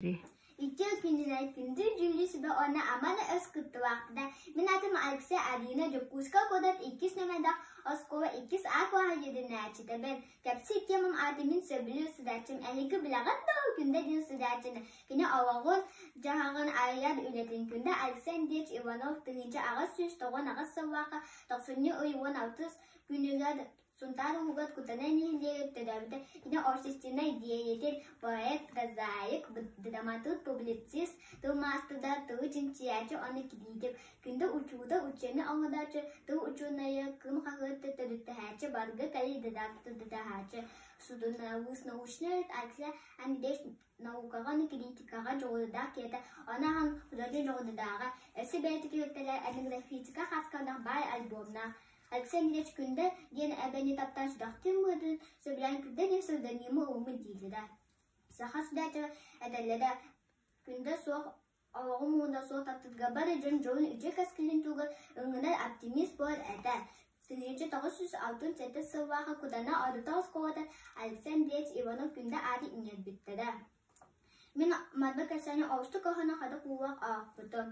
Иккис кинилэр күндү дьүүллүү сүбэ уонна амана өс кыттыбаахтара. Мин атым Алексей Арина, Дьокуускай куодат иккис нөмэрдэх оскуола иккис А куоһа дьэдинээччитэбин. Кэпси икки мум ааты мин сөбүлүү судачым. Эниги билэҕит да күндэ дин судачына. Кини оҕоҕун дьаһаҕын айар үлэтин күндэ Александрович Иванов тыһыынча аҕыс сүүс тоҕон аҕыс сыллаахха тохсунньу ый уон алтыс күнүгэр Сунтаар уһугар Кутана нэһилиэгин төрөөбүтэ итинэ общественнай деятель, поэт, прозаик, драматург, публицист, тыл маастара, тыл чинчийээччи уонна кириитик, күндэ учуутал, учуонай оҥорооччу, тыл учуонайа, кым хаһыат төрүттэһээччи, баргы тайы дыдахачы, судуналыыс, научная редакция, анбеш наукаҕа уонна кириитикаҕа дьоҕурдаах киһитэ, ону аhan художник дьоҕурдааҕа, өссө бэйэтэ киһиэктэрэ, этнографическа хаска баай альбомнаах, Алексей Ильич күндэ диэн эбэни таптаан сүрэхтиин быһытын, сөбүлээн күрдэни сылданима уумун диилэ да. Саха сибээтэ этэллэрэ күндэ суох олоҕум муҥуна суох таптыырга бары дьон дьолун үтүө кэскилин тугар өҥүнэр оптимист буол этэ. Тыһыынча тоҕус жүз алтын сэттис сыллааҕы Кудана ордута оскуолата Алексей Ильич Иванов күндэ ааты иҥэрбиттэрэ. Мин манна кэсэни олустук оһону хадык уулаах аахпытым.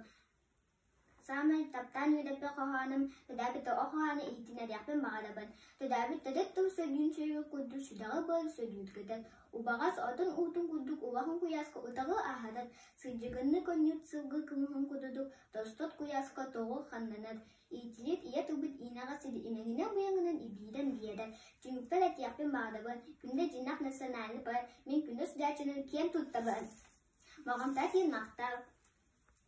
Саамай таптаан үөдэппит хоһоонум «Төрөөбүт оҕо хоһооно» иһитиннэриэхпин баҕарабын. Төрөөбүт төрүт тыл сөргүн-сүргү курдук сүдэҕэ буолан сөргүтгүтэн, убаҕас отун уутун курдук улахан куйааска утаҕы аһатан, сылдьыгынны конньут сылгы кымыһын курдук тостот куйааска тоҕу ханнанар, иитилит ийэ тылбыт иинэҕэ сири имэҥинэн-буйаҥынан ибиирэн биэрэр. Түмүкпэр этиэхпин баҕарабын, күндэ дьинэх национальный парк мин күнүс даачанан киэн туттабын. Моҕомтоотиин махтал